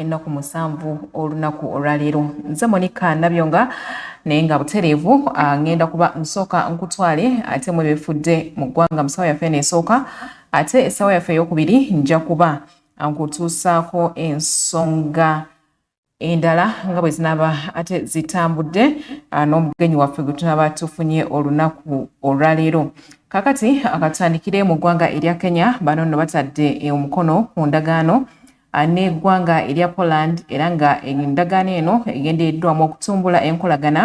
ennaku musanvu olunaku olwaleero nze monika nabyo nga naye nga butereevu ah, ngenda kuba nsooka nkutwale ate mu ebifudde mu ggwanga mu ssaawa yaffe neesooka ate essaawa yaffe eyokubiri nja kuba nkutuusaako ensonga endala nga bwe zinaaba ate zitambudde ah, n'omugenyi waffe gwe tunaaba tufunye olunaku olwaleero kakati akatandikire mu ggwanga erya kenya bano nno batadde eh, omukono ku ndagaano ah, n'eggwanga erya poland era nga endagaano eno egendereddwamu okutumbula enkolagana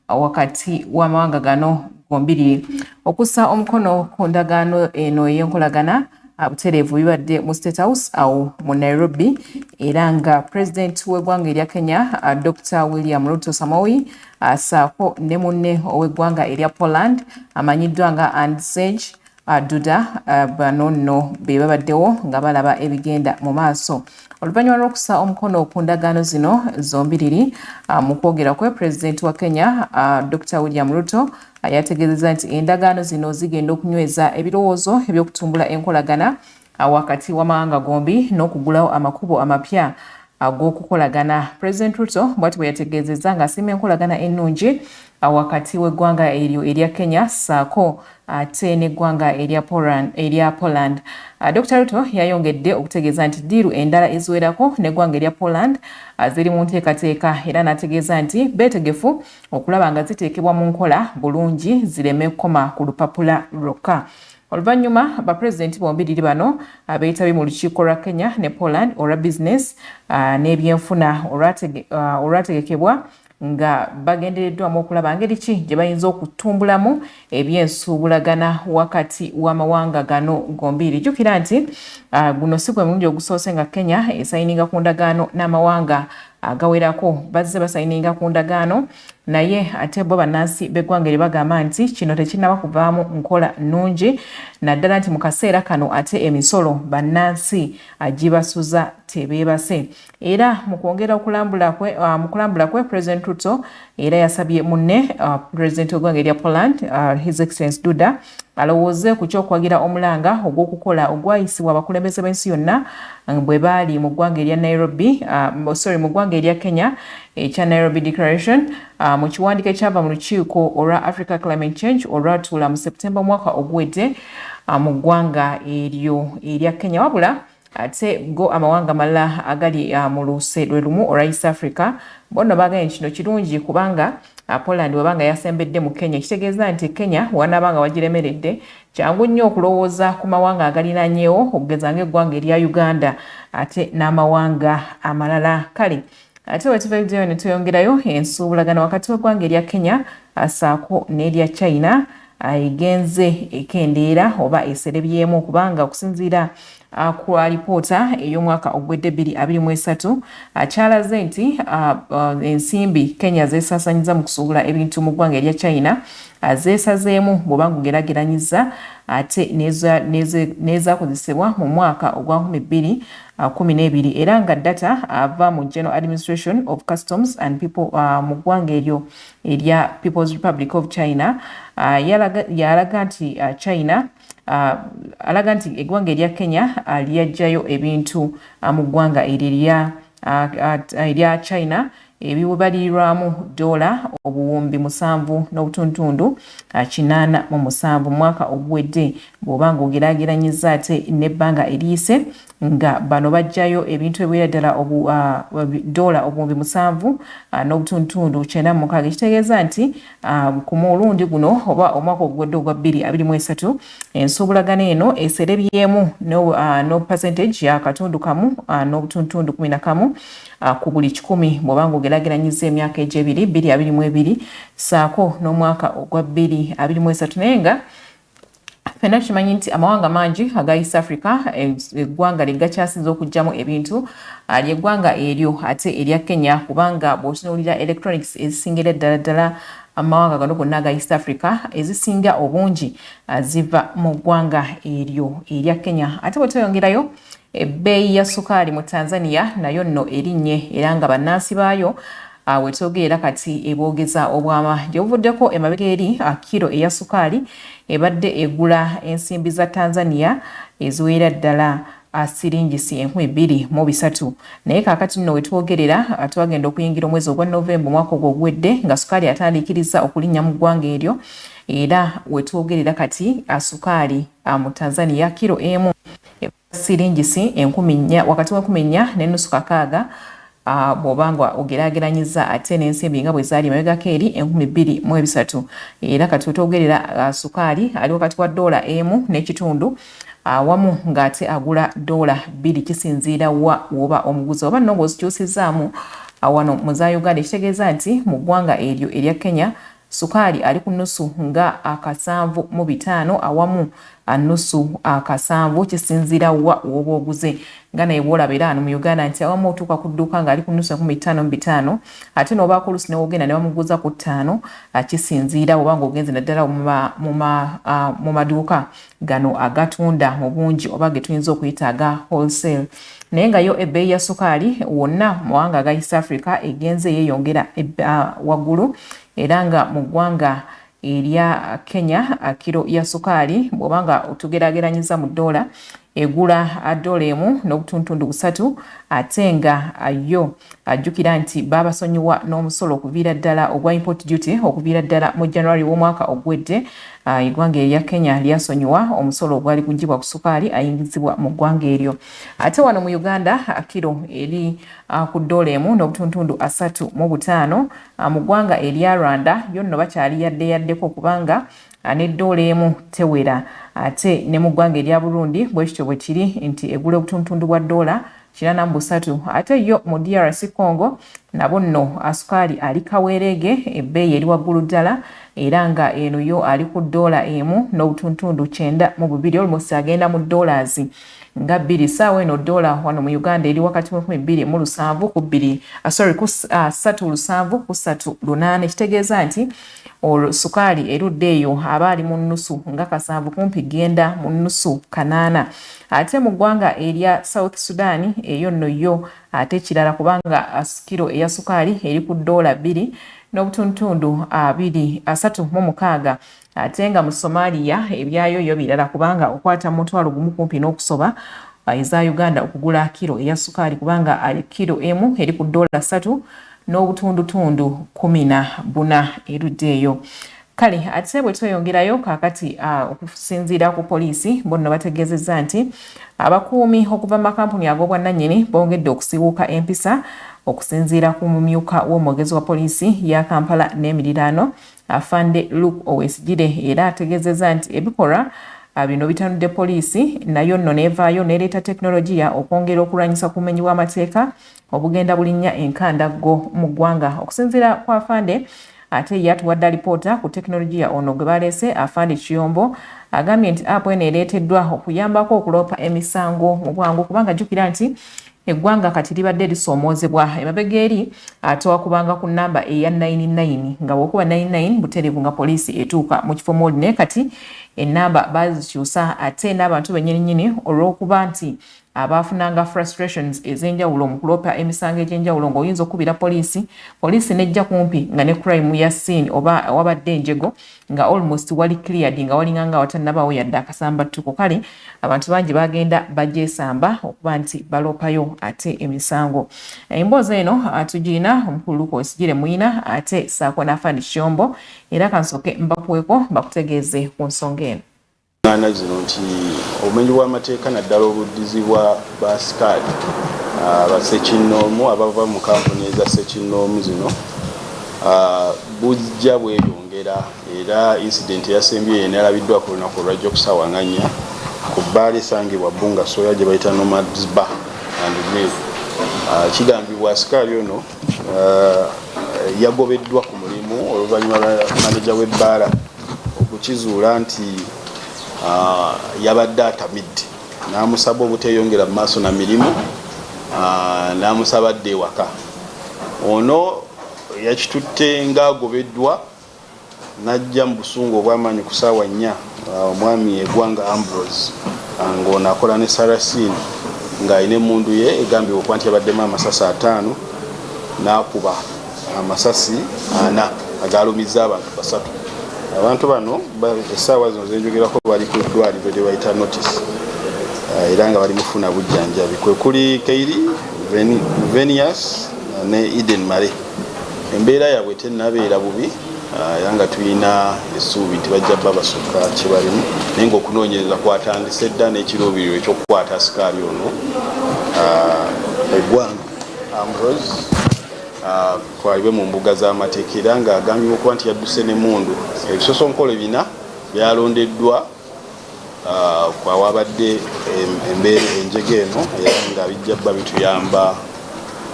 wakati w'amawanga gano gombiri okussa omukono ku ndagaano eno ey'enkolagana butereevu bibadde mu state house awo mu nairobi era nga pulezidenti w'eggwanga erya kenya dr william ruto samowi asaako ne munne ow'eggwanga erya poland amanyiddwa nga andsage aduda ah, bano nno be babaddewo nga balaba ebigenda mu maaso oluvannyuma lw'okusa omukono ku ndagaano zino zombiriri ah, mu kwogera kwe pulezidenti wa kenya ah, dr william ruto yategeezeza nti endagaano zino zigenda okunyweza ebirowoozo eby'okutumbula enkolagana awakati w'amawanga gombi n'okugulawo amakubo amapya ag'okukolagana president ruto bwati bwe yategeezezza ng'asiima enkolagana ennungi awakati w'eggwanga eryo erya kenya ssaako ate n'eggwanga erya poland ah, dr ruto yayongedde okutegeeza nti ddiiru endala eziwerako n'eggwanga erya poland ah, ziri mu nteekateeka era n'ategeeza nti beetegefu okulaba nga ziteekebwa mu nkola bulungi zireme kukoma ku lupapula lwokka Oluvannyuma bapulezidenti bombiriri bano abeetabye mu lukiiko lwa Kenya ne Poland olwa bizinesi uh, n'ebyenfuna uh, olwategekebwa uh, nga bagendereddwamu okulaba ngeri ki gye bayinza okutumbulamu ebyensuubulagana wakati w'amawanga gano gombiiri jjukira nti uh, guno si gwe mulundi ogusoose nga kenya esayininga ku ndagaano n'amawanga agawerako bazze basayininga ku ndagaano naye ate bo bannansi b'eggwanga eri bagamba nti kino tekinnaba kuvaamu nkola nnungi naddala nti mu kaseera kano ate emisolo bannansi agibasuza tebeebase era mu kwongera okulambula kwe uh, mu kulambula kwe president ruto era yasabye munne uh, president w'eggwanga erya poland uh, his excellence duda balowooze ku ky'okuwagira omulanga ogw'okukola ogwayisibwa abakulembeze b'ensi yonna eh, bwe baali mu ggwanga erya Nairobi ah, sorry mu ggwanga erya Kenya ekya Nairobi Declaration ah, mu kiwandiiko ekyava mu lukiiko olwa Africa Climate Change olwatuula mu September omwaka oguwedde ah, mu ggwanga eryo erya Kenya wabula ate go amawanga malala agali uh, mu luuse lwe lumu olwa east africa bonno baganye kino kirungi kubanga uh, poland weba nga yasembedde mu kenya ekitegeeza nti kenya wanaaba nga wagiremeredde kyangu nnyo okulowooza ku mawanga agalinanyewo okugeza ngaeggwanga erya uganda ate n'amawanga amalala kale ate wetuvaideyo netweyongerayo ensuubulagana wakati w'eggwanga erya kenya asaako n'erya china egenze ekendeera oba eserebyemu kubanga okusinziira ku alipoota ey'omwaka ogwedde bbiri abiri mu esatu akyalaze nti ensimbi kenya zeesasanyiza mu kusuubula ebintu mu ggwanga erya china zeesazeemu bw'oba ngugerageranyiza ate n'ezakozesebwa mu mwaka ogwa nkumi bbiri uh, kumi n'ebiri era nga data ava mu general administration of customs and people uh, mu ggwanga eryo erya people's republic of china uh, yalaga nti uh, china uh, alaga nti eggwanga erya kenya uh, lyajjayo ebintu uh, mu ggwanga eryo erya uh, uh, china ebibalirirwamu doola obuwumbi musanvu n'obutuntundu kinaana mu musanvu mu mwaka oguwedde bw'oba ng'ogeraageranyizza ate n'ebbanga eriyise nga bano baggyayo ebintu ebiwera ddala doola obuwumbi musanvu n'obutuntundu kyenda mu mukaaga ekitegeeza nti ku mulundi guno oba omwaka oguwedde ogwa bbiri abiri mu esatu ensuubulagana eno eserebyemu n'opasentage ya katundu kamu n'obutuntundu kumi na kamu Ah, ku buli kikumi bw'oba ng'ogerageranyizza emyaka egy'ebiri bbiri abiri mu ebiri saako n'omwaka ogwa bbiri abiri mu esatu naye nga fena tukimanyi nti amawanga mangi aga east africa eh, eggwanga lyegakyasinza okugyamu ebintu ah, lyeggwanga eryo ate erya kenya kubanga bw'otunuulira electronics ezisingira eddala ddala amawanga gano gonna aga east africa ezisinga obungi ah, ziva mu ggwanga eryo erya kenya ate bwe tweyongerayo Ebbeeyi ya sukaali mu Tanzania nayo nno erinnye era nga bannansi baayo ah, we twogerera kati eboogeza obwama. Gye buvuddeko emabega eri ah, kiro eya sukaali ebadde egula ensimbi za Tanzania eziweera ddala ah, siringisi enkumi bbiri mu bisatu naye kaakati nno we twogerera twagenda okuyingira omwezi ogwa Novemba omwaka ogwo oguwedde nga sukaali atandiikiriza okulinnya mu ggwanga eryo era we twogerera kati sukaali mu Tanzania kiro emu siringisi enkumi nnya wakati w'enkumi nnya n'ennusu kakaaga Ah, bw'oba nga ogeraageranyizza ate n'ensimbi nga bwe zaali emabegako eri enkumi bbiri mu ebisatu era kati wetwogerera ah, sukaali ali wakati wa doola emu n'ekitundu awamu ah, ng'ate agula doola bbiri kisinziira wa woba omuguzi oba nno ng'ozikyusizzaamu wano mu za uganda ekitegeeza nti mu ggwanga eryo erya kenya Sukaali ali ku nusu nga akasanvu mu bitaano awamu anusu akasanvu kisinzira wa woba oguze nga naye bwolaba era ano mu uganda nti awamu otuuka ku dduuka ng'ali ku nusu enkumi ttaano mu bitaano ate n'obaako olusi newogenda ne bamuguza ku ttaano akisinziira oba ng'ogenze naddala mu maduuka gano agatunda mu bungi oba ge tuyinza okuyita aga wholesale naye nga yo ebbeeyi ya sukaali wonna mawanga aga east africa egenze yeeyongera waggulu era nga mu ggwanga erya kenya kiro ya sukaali bw'oba nga otugerageranyiza mu ddoola egula ddoola emu n'obutuntundu busatu ate nga yo ajjukira nti baabasonyiwa n'omusolo okuviira ddala ogwa import duty okuviira ddala mu january w'omwaka ogwedde Eggwanga erya Kenya lyasonyiwa omusolo ogwali guggyibwa ku sukaali ayingizibwa mu ggwanga eryo. Ate wano mu Uganda, kiro eri ku ddoola emu n'obutuntundu asatu mu butaano. Mu ggwanga erya Rwanda yo nno bakyali yadde yaddeko kubanga ne ddoola emu tewera. Ate ne mu ggwanga erya Burundi bwe kityo bwe kiri nti egula obutuntundu bwa ddoola Kinana mu busatu ate yo mu DRC Congo nabo nno asukaali ali kaweereege, ebbeeyi eri waggulu ddala era nga eno yo ali ku ddoola emu n'obutuntundu kyenda mu bubiri almost agenda mu dollars nga bbiri saawa eno ddoola wano mu Uganda eri wakati mu kumi bbiri mu lusanvu ku bbiri ah, sorry ku ah, ssatu lusanvu ku ssatu lunaana ekitegeeza nti sukaali erudde eyo aba ali mu nnusu nga kasanvu kumpi genda mu nnusu kanaana Ate mu ggwanga erya South Sudan eyo nno yo ate kirala kubanga kilo eya sukaali eri ku ddoola bbiri n'obutundutundu abiri asatu mu mukaaga ate nga mu Somalia ebyayo yo birala kubanga okwata mutwalo gumu kumpi n'okusoba eza Uganda okugula kilo eya sukaali kubanga kilo emu eri ku ddoola ssatu n'obutundutundu kumi na buna erudde eyo. Kale ate bwe tweyongerayo kaakati okusinziira ku poliisi bonno bategeezezza nti abakuumi okuva mu makampuni ag'obwannannyini bongedde okusiwuuka empisa okusinziira ku mumyuka w'omwogezi wa poliisi ya Kampala n'emiriraano Afande Luke Owesigire era ategeezezza nti ebikolwa bino bitanudde poliisi nayo nno n'evaayo n'ereeta tekinologiya okwongera okulwanyisa ku bumenyi bw'amateeka obugenda bulinnya enkandaggo mu ggwanga okusinziira ku afande ate ye atuwadde alipoota ku tekinologiya ono gwe baleese afande kiyombo agambye nti app eno ereeteddwa okuyambako okuloopa emisango mu bwangu kubanga jjukira nti eggwanga kati libadde lisoomoozebwa emabega eri ate wakubanga ku namba eya 99 nga wokuba 99 butereevu nga poliisi etuuka mu kifo mwoli naye kati enamba bazikyusa ate n'abantu benyininyini olw'okuba nti abaafunanga frustrations ez'enjawulo mu kuloopa emisango egy'enjawulo ng'oyinza okukubira poliisi poliisi n'ejja kumpi nga ne crime ya scene oba wabadde enjego nga almost wali cleared nga walinga nga watannabaawo yadde akasambattuko kale abantu bangi bagenda bagyesamba okuba nti baloopayo ate emisango emboozi eno tugirina omukulu luka osigire muyina ate saako n'afaani kyombo era kansooke mbakuweko bakutegeeze ku nsonga eno ngana zino nti obumenyi bw'amateeka naddala obuddizi bwa baasikaali ah, basekinnoomu abava mu kampuni eza sekinnoomu zino ah, bujja bweyongera era incidenti eyasembyeyo eno yalabiddwa ku lunaku olwajja okusawanganya ku bbaala esangibwa bunga soya gye bayita nomadsba and mil ah, kigambibwa asikaali ono yagobeddwa ku mulimu oluvannyuma lwa maneja w'ebbaala okukizuula nti ah, yabadde atamidde n'amusaba obuteeyongera mu maaso na mirimu ah, n'amusaba dde ewaka ono yakitutte ng'agobeddwa n'ajja mu busungu obwamaanyi ku saawa nnya ah, omwami egwanga ambrose ng'ono akola ne sarasini ng'alina emundu ye egambibwa okuba nti yabaddemu amasasi ataano n'akuba amasasi ana agaalumizza abantu basatu abantu bano essaawa zino zenjogerako bali ku ddwaliro lyebayita notice eh, era nga bali mufuna bujjanjabi kwekuli keiri venius eh, ne eden mare embeera yabwe tenabeera bubi eh, era nga tulina esuubi nti bajja ba basukka kyebalimu naye nga okunoonyereza kwatandise dda n'ekiruubiriro ekyokukwata sikaali ono eggwanga ambrose atwalibwe mu mbuga z'amateeka era ng'agambibwa okuba nti yadduse n'emmundu ebisosonkole bina byalondeddwa ah, kwawabadde embeera enjega eno era nga bijja bba bituyamba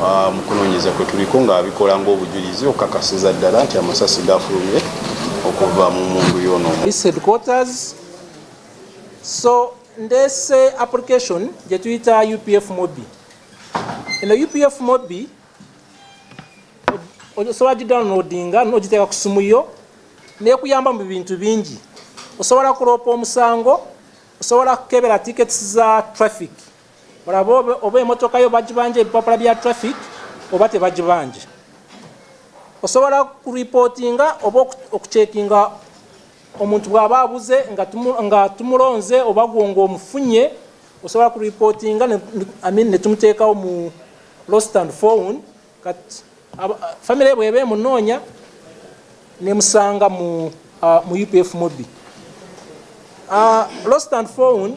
ah, mu kunoonyeza kwe tuliko nga bikola ng'obujulizi okukakasiza ddala nti amasasi gafulumye okuva mu mundu yono so ndese application gyetuyita upf mobi eno upf mobbi osobola gidownloadinga nogiteeka ku simu yo nekuyamba mu bintu bingi osobola kuloopa omusango osobola kukebera tickets za traffic olaba oba emotoka yo bagibanja ebipapula bya traffic oba tebagibanja osobola kuripootinga oba okucekinga omuntu bw'aba abuze nga tumulonze oba gwo ng'omufunye osobola ku reportinga ne tumuteekawo mu lost and found kati famire bw'eba emunoonya nemusanga mu uh, mu upf mobi uh, lost and found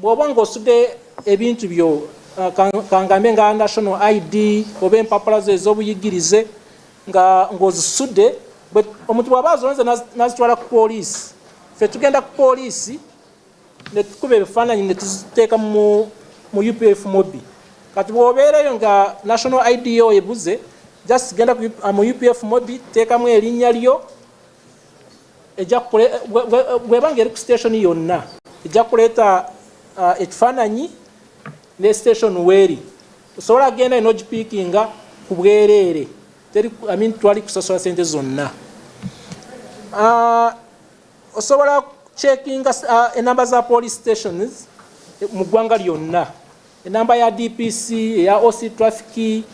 bw'oba ng'osudde ebintu byo uh, kangambe nga national id oba empapula zo ez'obuyigirize nga ng'ozisudde omuntu bw'aba azonze n'azitwala ku poliisi ffe tugenda ku poliisi ne tukuba ebifaananyi ne tuziteeka mu upf mobi kati bw'obeereyo nga national ido ebuze just genda uh, mu upf mobi teekamu erinnya lyo bwebanga eri ku station yonna ejja kuleeta uh, ekifaananyi ne station weeri osobola kugenda ino ogipiikinga ku bwereere teri I mean, twali kusasola sente zonna uh, osobola checkinga uh, enamba za police stations eh, mu ggwanga lyonna enamba ya dpc eya oc traffic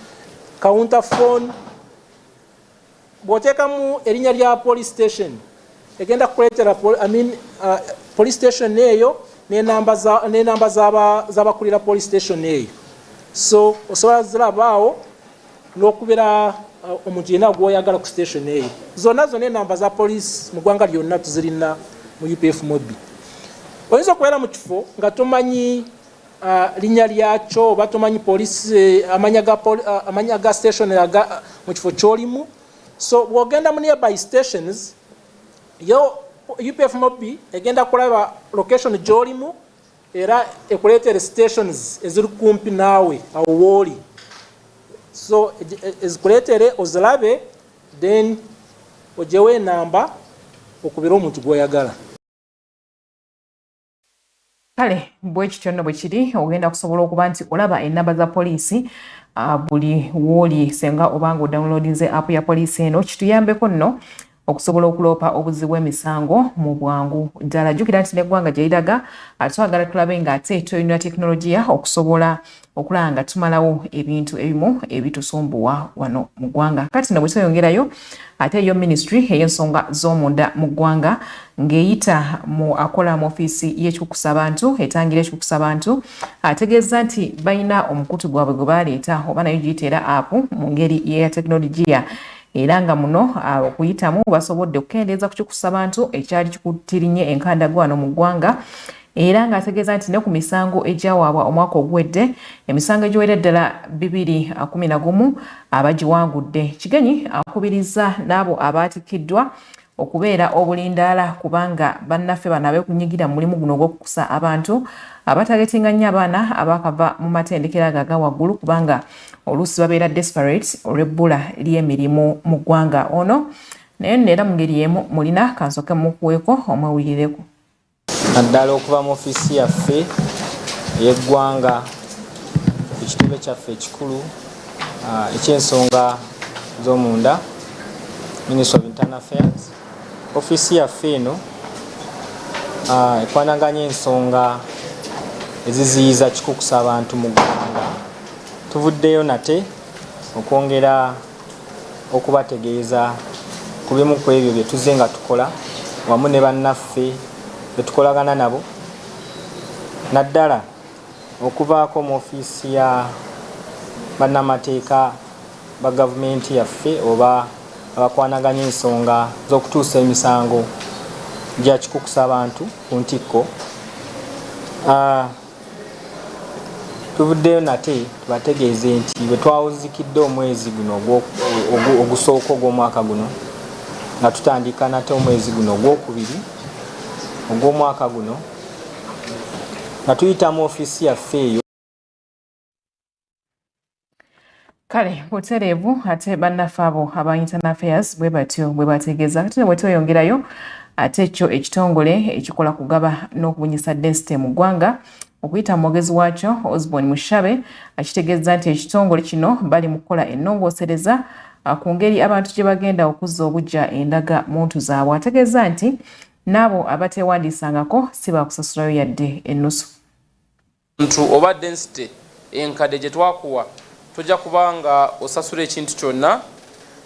counter phone bw'oteekamu erinnya lya police station egenda kukuleetera I mean, uh, police station eyo n'enamba z'abakulira police station eyo so osobola zirabaawo n'okubeera uh, omuntu yenna gwoyagala ku station eyo zonna zonna enamba za police mu ggwanga lyonna tuzirina mu upf mobi oyinza okubeera mu kifo nga tomanyi uh, linya lyakyo oba tomanyi polisi eh, amanya ga, poli, uh, amanya ga station aga uh, mu kifo kyolimu so bwogenda mu nearby stations yo upf mobi egenda kulaba location gyolimu era ekuleetere stations eziri kumpi naawe awo wooli so ezikuleetere e, ozilabe then ojewo enamba okubira omuntu gwoyagala kale bwe kityo nno bwe kiri ogenda kusobola okuba nti olaba ennamba za poliisi ah, buli wooli senga obanga odownloadinze app ya poliisi eno kituyambeko nno okusobola okuloopa obuzzi bw'emisango mu bwangu ddala jjukira nti n'eggwanga gye liraga ah, twagala tulabe ng'ate tulina tekinologiya okusobola okulaba nga tumalawo ebintu ebimu ebitusumbuwa wano mu ggwanga kati no bwetweyongerayo ate yo ministry ey'ensonga z'omunda mu ggwanga ng'eyita mu akola mu ofiisi y'ekikwukusa abantu etangira ekikwukusa abantu ategeeza nti balina omukutu gwabwe gwe baleeta oba nayo giyita era apu mu ngeri yeya tekinologiya era nga muno ah, okuyitamu basobodde okukendeeza ku kikwukusa abantu ekyali kikutirinye enkandagwano mu ggwanga era ng'ategeeza nti ne ku misango egyawaabwa omwaka oguwedde emisango egiwera ddala bibiri kumi na gumu abagiwangudde. Kigenyi akubirizza n'abo abaatikkiddwa okubeera obulindaala kubanga bannaffe bano abeekunyigira mu mulimu guno ogw'okukusa abantu abatagetinga nnyo abaana abaakava mu matendekero ago aga waggulu kubanga oluusi babeera desperate olw'ebbula ly'emirimu mu ggwanga ono naye nno era mu ngeri emu mulina kansooke mukuweeko omwewulirireko naddala okuva mu ofiisi yaffe ey'eggwanga ku kitebe kyaffe ekikulu uh, eky'ensonga z'omunda ministry of internal affairs ofiisi yaffe eno uh, ekwanaganya ensonga eziziyiza kikukusa abantu mu ggwanga tuvuddeyo nate okwongera okubategeeza ku bimu ku ebyo bye tuzze nga tukola wamu ne bannaffe be tukolagana nabo naddala okuvaako mu ofiisi ya bannamateeka ba gavumenti yaffe oba abakwanaganya ensonga z'okutuusa emisango gya kikukusa abantu ku ntikko ah, Tuvuddeyo nate tubategeeze nti bwe twawuzikidde omwezi guno ogusooka ogw'omwaka guno nga tutandika nate omwezi guno ogwokubiri ogw'omwaka guno nga tuyita mu ofiisi yaffe eyo kale butereevu ate bannaffe abo aba internal affairs bwe batyo bwe bategeeza kati ne bwe tweyongerayo ate ekyo ekitongole ekikola kugaba n'okubunyisa densite mu ggwanga okuyita mu mwogezi waakyo osborn mushabe akitegeeza nti ekitongole kino bali mu kukola ennongoosereza ah, ku ngeri abantu gye bagenda okuzza obujja endaga muntu zaabwe ategeeza nti n'abo abateewandiisangako si baakusasulayo yadde ennusu Ntu oba density enkade gyetwakuwa toja kuba nga osasura ekintu kyonna.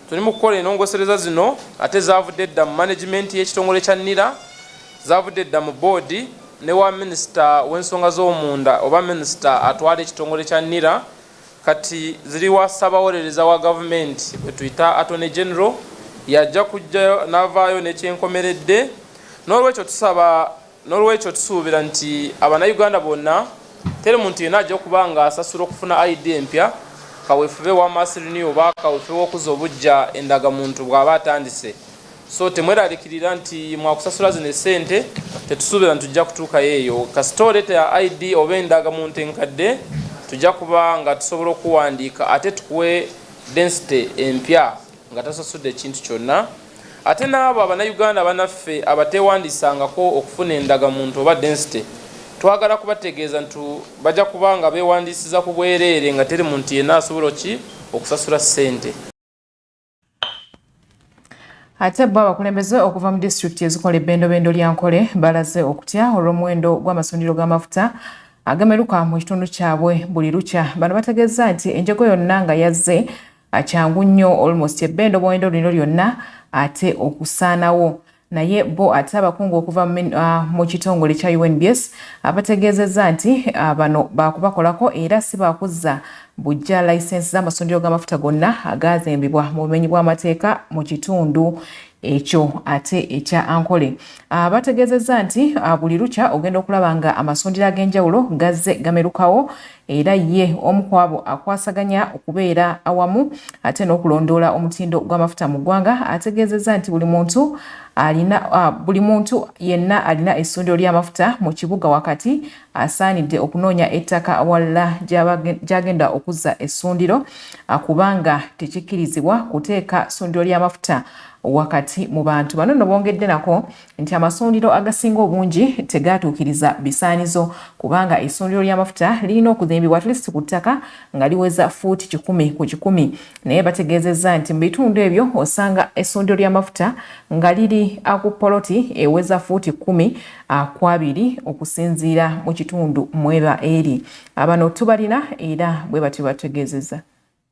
Tuli mu kukola enongosereza zino ate zavudde dda mu management y'ekitongole kya nira, zavudde dda mu board ne wa minister w'ensonga z'omunda oba minister atwala ekitongole kya nira kati ziri wa ssabawolereza wa gavumenti gwetuyita attorney general yajja kujja navaayo nekyenkomeredde n'olwekyo tusaba N'olwekyo tusuubira nti abannayuganda bonna teri muntu yenna ajja kuba nga asasula okufuna ID empya, kaweefube wa Mass Renew oba kaweefube w'okuzza obuggya endagamuntu bw'aba atandise. So temweraliikirira nti mwakusasula zino essente, tetusuubira nti tujja kutuukayo eyo. Kasita oleeta ya ID oba endagamuntu enkadde tujja kuba nga tusobola okuwandiika ate tukuwe densite empya nga tasasudde kintu kyonna. Ate n'abo abanayuganda banaffe abateewandisangako okufuna endaga muntu oba densite twagala kubategeeza ntu baja kuba nga beewandiisiza ku bwereere nga teri muntu yenna asobola ki okusasula ssente. Ate bo abakulembeze okuva mu disitulikiti ezikola ebbendobendo lya Nkole balaze okutya olw'omuwendo gw'amasundiro g'amafuta agameruka mu kitundu kyabwe buli lukya. Bano bategeezza nti enjego yonna nga yazze kyangu nnyo almost ebbe endoboondo lino lyonna ate okusaanawo naye bo ate abakungu okuva ah, mu kitongole kya UNBS abategeezezza nti ah, bano baakubakolako era si baakuzza bujja layisensi z'amasundiro g'amafuta gonna agaazimbibwa mu bumenyi bw'amateeka mu kitundu ekyo ate ekya ankole ah, bategeezezza nti buli lukya ogenda okulaba nga amasundiro ag'enjawulo gazze gamerukawo era ye omu ku abo akwasaganya okubeera awamu ate n'okulondoola omutindo gw'amafuta mu ggwanga ategeezezza nti buli muntu alina buli muntu yenna alina essundiro ly'amafuta mu kibuga wakati asaanidde okunoonya ettaka awalala gy'agenda okuzza essundiro kubanga tekikkirizibwa kuteeka ssundiro ly'amafuta wakati mu bantu bano no bongedde nako nti amasundiro agasinga obungi tegaatuukiriza bisaanizo kubanga essundiro ly'amafuta lirina okuzimbibwa atleast ku ttaka nga liweza fuuti kikumi ku kikumi naye bategeezezza nti mu bitundu ebyo osanga essundiro ly'amafuta nga liri aku poloti eweza fuuti kumi akwabiri okusinziira mu kitundu mweba eri abano tubalina era bwe batyo bategeezezza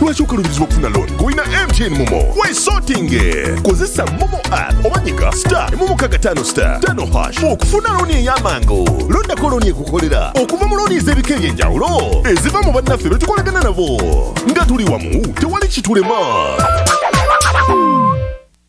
lwaki okalubirizibwa okufuna looni ng'olina mtn momo wesotinge kozesa momo app oba nyika star emu mukaga tano star tano hash okufuna looni ey'amangu londako looni ekukolera okuva mu looni ez'ebika eby'enjawulo eziva mu bannaffe be tukolagana nabo nga tuli wamu tewali kitulema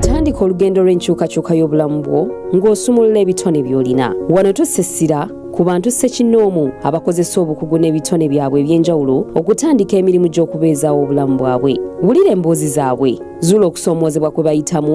tandika olugendo lw'enkyukakyuka y'obulamu bwo ng'osumulula ebitone by'olina wano tussa essira ku bantu ssekinnoomu abakozesa obukugu n'ebitone byabwe eby'enjawulo okutandika emirimu gy'okubeezaawo obulamu bwabwe wulira emboozi zaabwe zuula okusoomoozebwa kwe bayitamu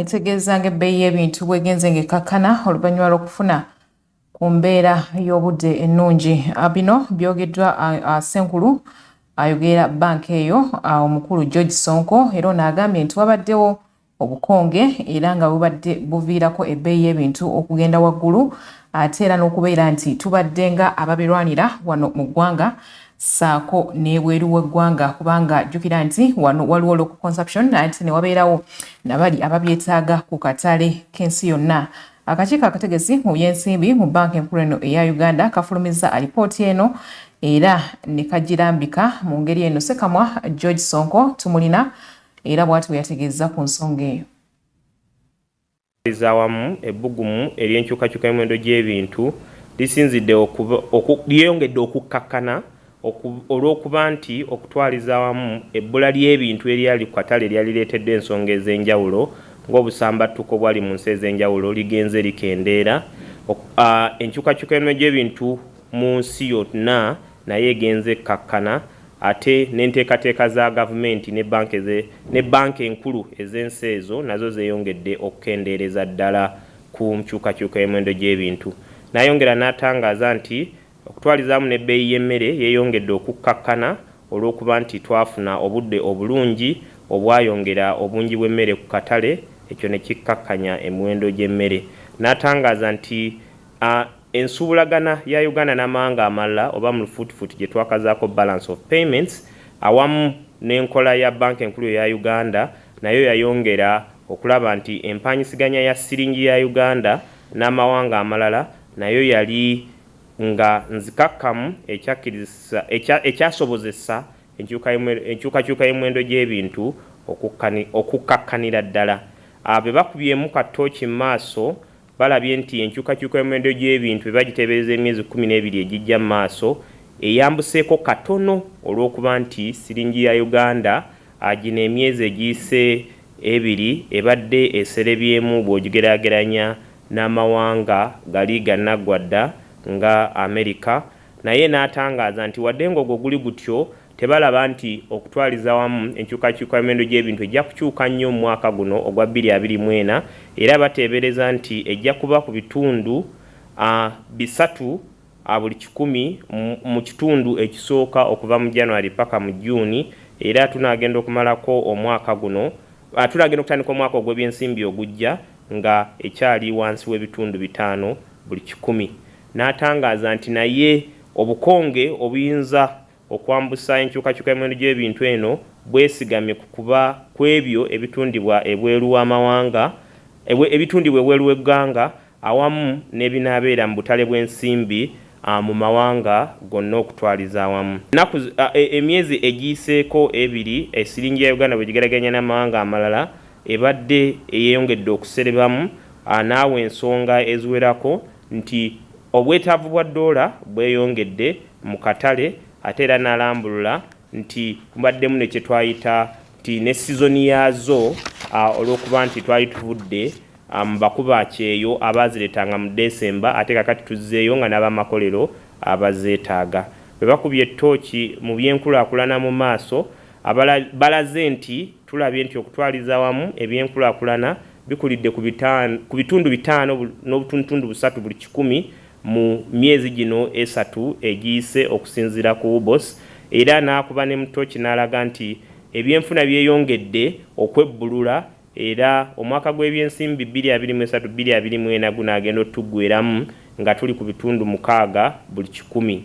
etegeeza ng'ebbeeyi y'ebintu bwegenze ng'ekakkana oluvannyuma lw'okufuna ku mbeera y'obudde ennungi ah, bino byogeddwa ah, ah, senkulu ayogera banka eyo omukulu george sonko era ono agambye nti wabaddewo obukonge era nga bubadde buviirako ebbeeyi y'ebintu okugenda waggulu ate era n'okubeera nti tubadde nga ababirwanira wano mu ggwanga saako n'ebweru w'eggwanga kubanga jjukira nti wano waliwo local consumption ate ne wabeerawo nabali ababyetaaga ku katale k'ensi yonna akakiiko akategesi mu byensimbi mu banka enkulu eno eya uganda kafulumizza alipooti eno era ne kagirambika mu ngeri eno sekamwa george sonko tumulina era bw'ati bwe yategeezza ku nsonga eyo. ezawamu ebbugumu ery'enkyukakyuka y'emiwendo gy'ebintu lisinzidde lyeyongedde okukkakkana olw'okuba nti okutwaliza awamu ebbula ly'ebintu eryali ku katale eryali lireeteddwa ensonga ez'enjawulo ng'obusambattuko obwali mu nsi ez'enjawulo ligenze likendeera. Enkyukakyuka y'emiwendo gy'ebintu mu nsi yonna nayo egenze ekkakkana ate n'enteekateeka za gavumenti ne banka eze ne banka enkulu ez'ensi ezo nazo zeeyongedde okukendeereza ddala ku nkyukakyuka y'emiwendo gy'ebintu. Nayongera n'atangaaza nti okutwalizaamu n'ebbeeyi y'emmere yeeyongedde okukkakkana olw'okuba nti twafuna obudde obulungi obwayongera obungi bw'emmere ku katale ekyo ne kikkakkanya emiwendo gy'emmere n'atangaaza nti a Ensuubulagana ya Uganda n'amawanga amalala oba mu lufuutifuuti gye twakazaako Balance of Payments awamu n'enkola ya Bbanka Enkulu eya Uganda nayo yayongera okulaba nti empaanyisiganya ya siringi ya Uganda n'amawanga amalala nayo yali nga nzikakkamu ekyakkirizisa ekya ekyasobozesa enkyuka enkyukakyuka y'emiwendo gy'ebintu okukkani okukkakkanira ddala. Abo be bakubyemu ka ttooci mu maaso balabye nti enkyukakyuka y'omuwendo gy'ebintu bye bagiteebereza emyezi kkumi n'ebiri egijja mu maaso eyambuseeko katono olw'okuba nti siringi ya Uganda gino emyezi egiyise ebiri ebadde eserebyemu bw'ogigeraageranya n'amawanga gali gannaggwa dda nga Amerika naye n'atangaaza nti wadde ng'ogwo guli gutyo Tebalaba nti okutwaliza awamu enkyukakyuka y'emiwendo gy'ebintu ejja kukyuka nnyo mu mwaka guno ogwa bbiri abiri mu ena era bateebereza nti ejja kuba ku bitundu a bisatu a buli kikumi mu kitundu ekisooka okuva mu January paka mu June era tunaagenda okumalako omwaka guno a tunaagenda okutandika omwaka ogw'ebyensimbi ogujja nga ekyali wansi w'ebitundu bitaano buli kikumi n'atangaaza nti naye obukonge obuyinza Okwambusa enkyukakyuka y'emiwendo gy'ebintu eno bwesigamye ku kuba kw'ebyo ebitundibwa ebweru w'amawanga, ebitundibwa ebweru w'eggwanga awamu n'ebinaabeera mu butale bw'ensimbi mu mawanga gonna okutwaliza awamu. Ennaku, emyezi egiyiseeko ebiri siringi ya Uganda bwegigerageranya n'amawanga amalala ebadde eyeyongedde okuserebamu n'awo ensonga eziwerako nti obwetaavu bwa ddoola bweyongedde mu katale ate era n'alambulula nti mubaddemu ne kye twayita nti ne sizoni yaazo olw'okuba nti twali tuvudde mu bakuba kyeyo abaazireetanga mu Desemba ate kakati tuzzeeyo nga n'abamakolero abazeetaaga bwe bakubye ttooki mu by'enkulaakulana mu maaso balaze nti tulabye nti okutwaliza awamu ebyenkulaakulana bikulidde ku bitundu bitaano n'obutundutundu busatu buli kikumi mu myezi gino esatu egiyise okusinziira ku UBOS era n'akuba ne mu tooki n'alaga nti ebyenfuna byeyongedde okwebbulula era omwaka gw'ebyensimbi 2023 2024 gunaagenda otuggweeramu nga tuli ku bitundu mukaaga buli kikumi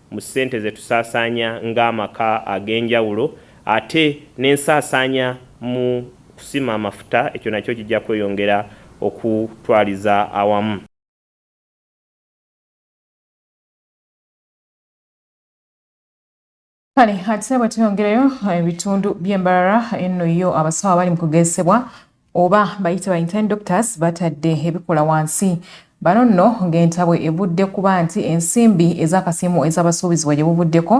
mu ssente ze tusaasaanya ng'amaka ag'enjawulo ate n'ensaasaanya mu kusima amafuta ekyo nakyo kijja kweyongera okutwaliza awamu. Kale ate bwe tuyongerayo ebitundu by'e Mbarara enno yo abasawo abali mu kugezesebwa oba bayite ba intern doctors batadde ebikola wansi bano nno ng'entabwe evudde kuba nti ensimbi ez'akasiimu ez'abasuubizibwa gye buvuddeko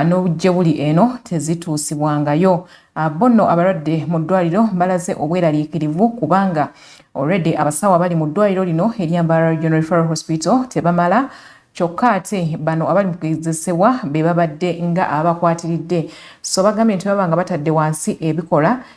n'obujje buli eno tezituusibwangayo ah, bo nno abalwadde mu ddwaliro balaze obweraliikirivu kubanga already abasawo abali mu ddwaliro lino eryambara regional referral hospital tebamala kyokka ate bano abali mu kugezesebwa be babadde nga abakwatiridde so bagambye nti baba nga batadde wansi ebikola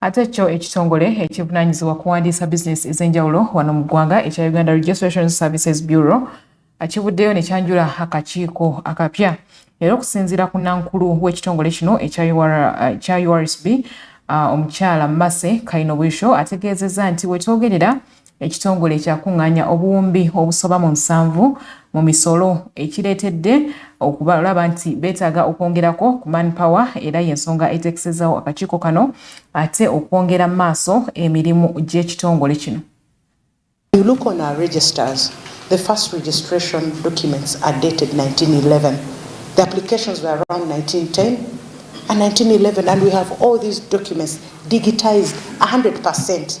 ate kyo ekitongole ekivunanyizibwa kuwandiisa bizinesi ez'enjawulo wano mu ggwanga ekya uganda registration services bureau akivuddeyo ne kyanjula akakiiko akapya era okusinziira ku nankulu w'ekitongole kino ekya ursb uh, uh, omukyala mase kainobwisho ategeezezza nti wetwogerera ekitongole ekyakung'anya obuwumbi obusoba mu nsanvu mu misolo ekireetedde okulaba nti beetaaga okwongerako ku manpower era y'ensonga eteekesezawo akakiiko kano ate okwongera maaso emirimu gy'ekitongole kino You look on our registers, the first registration documents are dated 1911. The applications were around 1910 and 1911 and we have all these documents digitized 100%.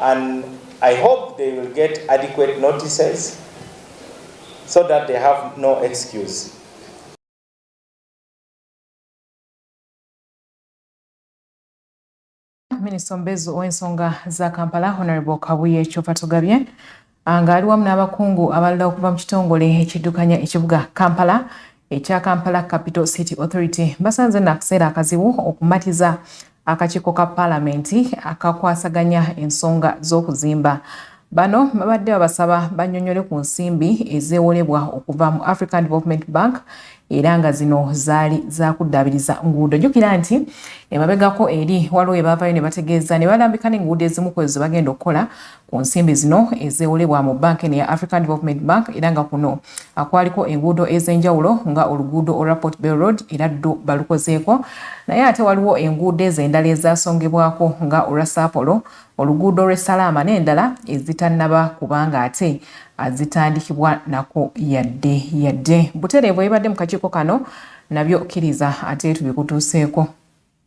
and I hope they will get adequate notices so that they have no excuse. Minister Mbezu ow'ensonga za Kampala Honorable Kabuye Kyofatogabye ng'ali wamu n'abakungu abalala okuva mu kitongole ekiddukanya ekibuga kampala ekya kampala capital city authority basanze no akaseera akazibu okumatiza akakiiko ka paalamenti akakwasaganya ensonga z'okuzimba bano babadde babasaba banyonyole ku nsimbi ezeewolebwa okuva mu african development bank era nga zino zaali zakuddaabiriza nguudo jjukira nti emabegako eri waliwo ebaavayo ne bategeeza ne balambika n'enguudo ezimu kwezo ze bagenda okukola ku nsimbi zino ezeewolebwa mu banka eno ya African Development Bank era nga kuno akwaliko enguudo ez'enjawulo nga oluguudo olwa Port Bell Road era ddu balukozeeko naye ate waliwo enguudo ezo endala ezaasongebwako nga olwa Saapolo oluguudo lw'e Salaama n'endala ezitannaba kubanga ate azitandikibwa nako yadde yadde butereevu ebibadde mu kakiiko kano nabyo kkiriza ate tubikutuuseeko.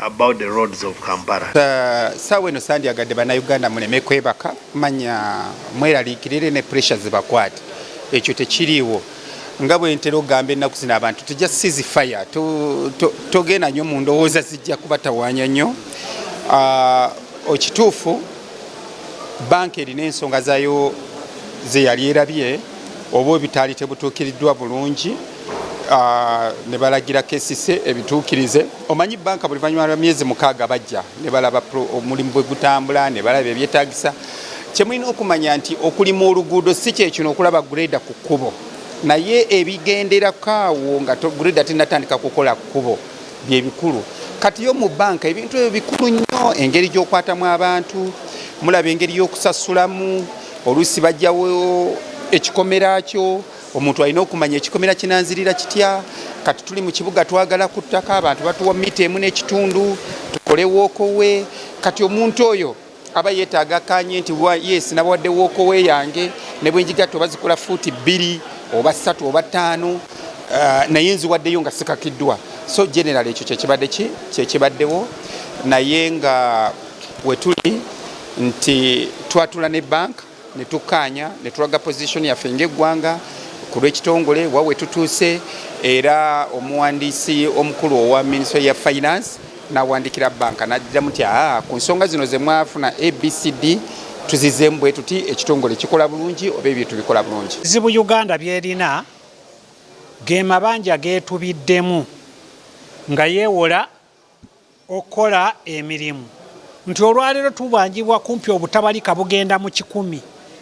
about the roads of Kampala. Uh, sawe no sandi agade bana Uganda muleme kwebaka manya mweralikirire ne pressure zibakwate ekyo tekiriwo nga bwe ntera ogamba ennaku zino abantu tujja sizi fire togenda nyo mu ndowooza zijja kubatawanya nnyo uh, okituufu banka erina ensonga zayo zeyali erabye oba ebitaali tebutuukiriddwa bulungi ah, ne balagira kesise ebituukirize omanyi banka buli vanyuma lwa myezi mukaaga bajja ne balaba omulimu bwe gutambula ne balaba ebyetagisa kyemulina okumanya nti okulima oluguudo si kyekino okulaba greda ku kkubo naye ebigenderako awo nga greda tinatandika kukola kkubo bye bikulu kati yo mu banka ebintu ebyo bikulu nnyo engeri gy'okwatamu abantu mulaba engeri y'okusasulamu oluusi bajjawo ekikomera kyo omuntu alina okumanya ekikomera kinanzirira kitya kati tuli mu kibuga twagala ku ttaka abantu batuwa mita emu n'ekitundu tukole wookowe kati omuntu oyo aba yeetaaga akanye nti yes nabawadde wokowe yange ne bwe njigatta oba zikola fuuti bbiri oba ssatu oba ttaano uh, naye nziwaddeyo nga sikakiddwa so general ekyo kyekibadde ki kyekibaddewo naye nga wetuli nti twatula ne banka ne tukkaanya ne tulaga pozisoni yaffe ng'eggwanga ku lw'ekitongole wa we tutuuse era omuwandiisi omukulu owa minisitule ya finance n'awandiikira banka n'addiramu nti aa ku nsonga zino ze mwafuna abcd tuzizeemu bwe tuti ekitongole kikola bulungi oba ebintu bikola bulungi zibu uganda byerina ge mabanja geetubiddemu nga yeewola okukola emirimu nti olwaleero tubanjibwa kumpi obutabalika bugenda mu kikumi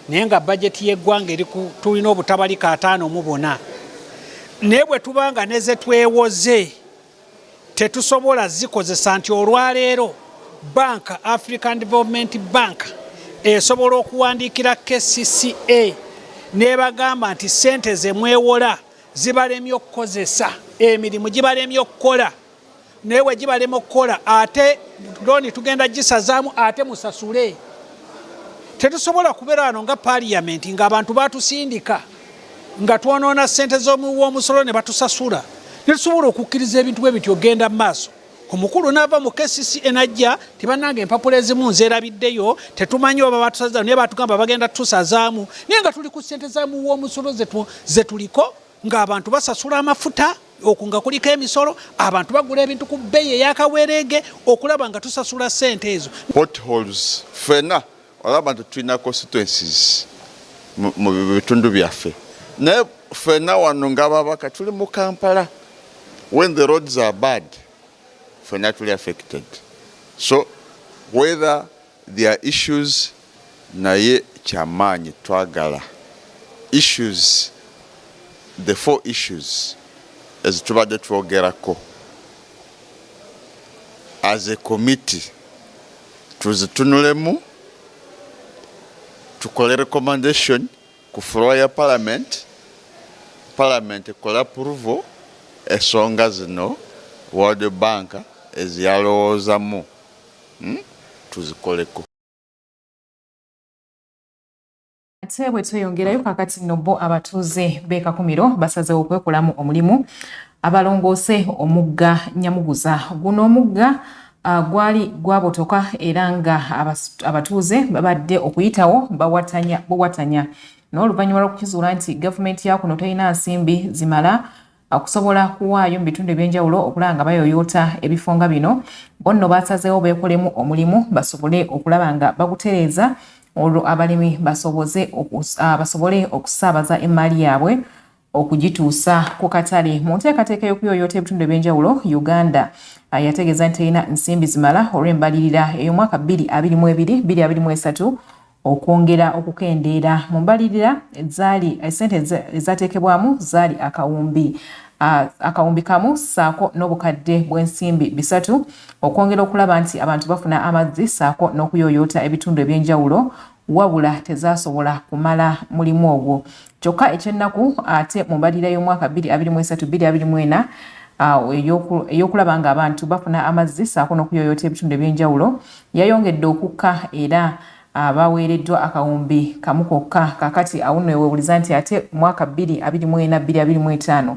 naye nga bajeti y'eggwanga eri tulina obutabalika ataano mu bona naye bwe tuba nga ne ze twewoze tetusobola zikozesa nti olwaleero banka african development bank esobola okuwandiikira kcca nebagamba nti sente zemwewola zibalemye okukozesa emirimu gibalemye okukola naye wegibalema okukola ate looni tugenda gisazaamu ate musasule tetusobola kubeera wano nga paliyamenti ngaabantu batusindika nga twonoona sente zomuwomusolo ne batusasula netusobola okukkiriza ebintu bwe bityo ogenda mu maaso omukulu naava mu kcc enajja tibananga empapula ezimu nzerabiddeyo tetumanyi oba batusaza naye batugamba bagenda tusazaamu naye nga tuli ku sente zamuwomusolo zetuliko ng'abantu basasula amafuta oku nga kuliko emisolo abantu bagula ebintu ku bbeeyi eyakawereege okulaba nga tusasula ssente ezo potholes fena olaba nti tulina constituencies mu bitundu byaffe naye fena wano ngababaka tuli mu kampala when the roads are bad fena tuli affected so whether Their issues naye kyamaanyi twagala issues the four issues ezitubadde twogerako as a committee tuzitunulemu tukole recommendation ku floor ya parliament parliament ekole approval esonga zino world bank eziyalowoozamu hmm? tuzikoleko ate bwe tweyongerayo kakati nno bo abatuuze b'e Kakumiro basazeewo okwekolamu omulimu abalongoose omugga Nyamuguza guno omugga ah, gwali gwabotoka era nga abatuuze babadde okuyitawo bawatanya buwatanya n'oluvannyuma lw'okukizuula nti gavumenti ya kuno terina nsimbi zimala okusobola kuwaayo mu bitundu eby'enjawulo okulaba nga bayoyoota ebifo nga bino bo nno baasazeewo beekolemu omulimu basobole okulaba nga bagutereeza olwo abalimi ah, basobole okusaabaza emmaali yaabwe okugituusa ku katale mu nteekateeka y'okuyoyoota ebitundu eby'enjawulo uganda ah, yategeeza nti terina nsimbi zimala olw'embalirira ey'omwaka 223 okwongera okukendeera mu mbalirira zaali esente ezateekebwamu zaali akawumbi akawumbi kamu saako n'obukadde bw'ensimbi bisatu okwongera okulaba nti abantu bafuna amazzi saako n'okuyooyoota ebitundu eby'enjawulo wabula tezasobola kumala mulimu ogwo kyokka ekyennaku ate mu mbalirira y'omwaka 2023-2024 ey'okulaba ng'abantu bafuna amazzi saako n'okuyooyoota ebitundu eby'enjawulo yayongedde okukka era abaweereddwa akawumbi kamu kokka kakati awuno ewewuliza nti ate mwaka 2024-2025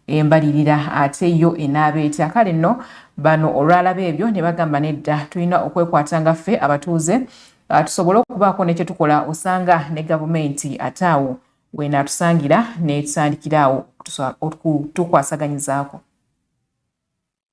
embalirira ate yo enaaba etya kale nno bano olwalaba ebyo ne bagamba nedda tulina okwekwata nga ffe abatuuze ah, tusobole okubaako ne kyetukola osanga ne gavumenti ate awo weenaatusangira netutandikira awo okutukwasaganyizaako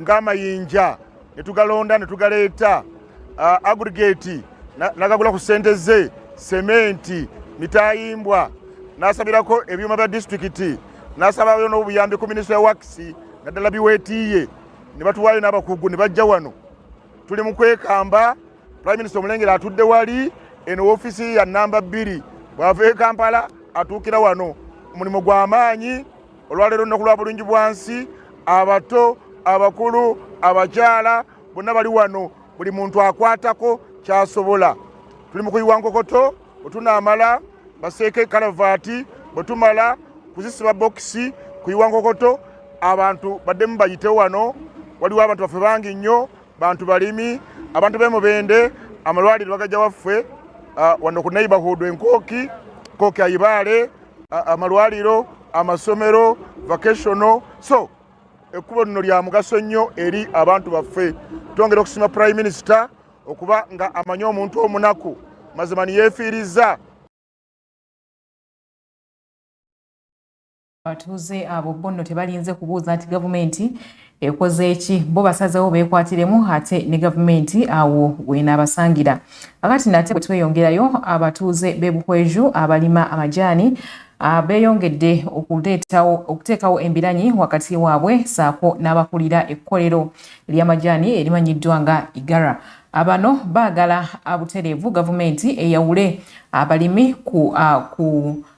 ng'amayinja ne tugalonda ne tugaleeta uh, aggregate nagagula ku ssente ze sementi mitayimbwa nasabirako ebyuma bya disitulikiti nasabayo n'obuyambi ku minisita ya wakisi naddala biweetiiye ne batuwaayo n'abakugu ne bajja wano tuli mu kwekamba prime minister omulengera atudde wali eno ofiisi ya namba bbiri bw'ava e kampala atuukira wano omulimu gw'amaanyi olwaleero nnaku lwa bulungi bwansi abato abakulu abakyala bonna bali wano buli muntu akwatako kyasobola tuli mu kuyiwa nkokoto bwetunaamala baseeko ekalavaati bwetumala kuzisiba bokisi kuyiwa nkokoto abantu baddemu bayite wano waliwo abantu baffe bangi nnyo bantu balimi abantu bemubende amalwaliro bagajja waffe ah, wano ku neighborhood enkooki kooki ayibaale amalwaliro amasomero vacationo so ekkubo lino lya mugaso nnyo eri abantu baffe twongera okusiima prime minister okuba nga amanyi omuntu omunaku mazima niyeefiirizza abatuuze abo bonno tebalinze kubuuza nti gavumenti ekoze eki bo basazewo bekwatiremu ate ne gavumenti awo wenaabasangira akati nate bwetweyongerayo abatuuze bebuhweju abalima amajaani ah, beyongedde okuteekawo embiranyi wakati waabwe saako n'abakulira ekkolero ly'amajaani erimanyiddwa nga igara abano ah, baagala abutereevu gavumenti eyawule abalimi ku, ah, ku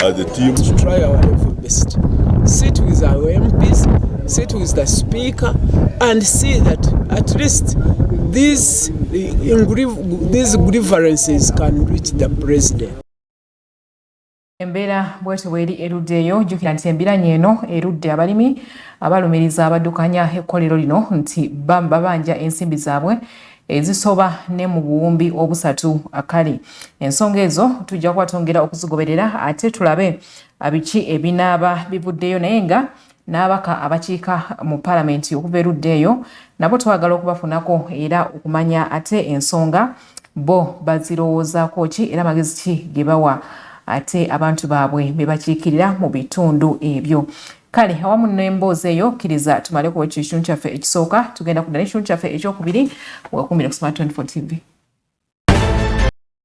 as a team to try our level best sit with our MPs sit with the speaker and see that at least these these grievances can reach the president embeera bwetyo bweri erudde eyo jjukira nti embiranye eno erudde abalimi abalumiriza abaddukanya ekkolero lino nti babanja ensimbi zaabwe ezisoba ne mu buwumbi obusatu akali ensonga ezo tujja kuba twongera okuzigoberera ate tulabe biki ebinaaba bivuddeyo naye nga n'abaka abakiika mu palamenti okuva erudda eyo nabo twagala okubafunako era okumanya ate ensonga bo bazirowoozaako ki era magezi ki ge bawa ate abantu baabwe bebakiikirira mu bitundu ebyo kale awamu n'emboozi eyo kkiriza tumale kuwa ekyo ekitundu kyaffe ekisooka tugenda kudda n'ekitundu kyaffe ekyokubiri weekuumire kusoma 24 tv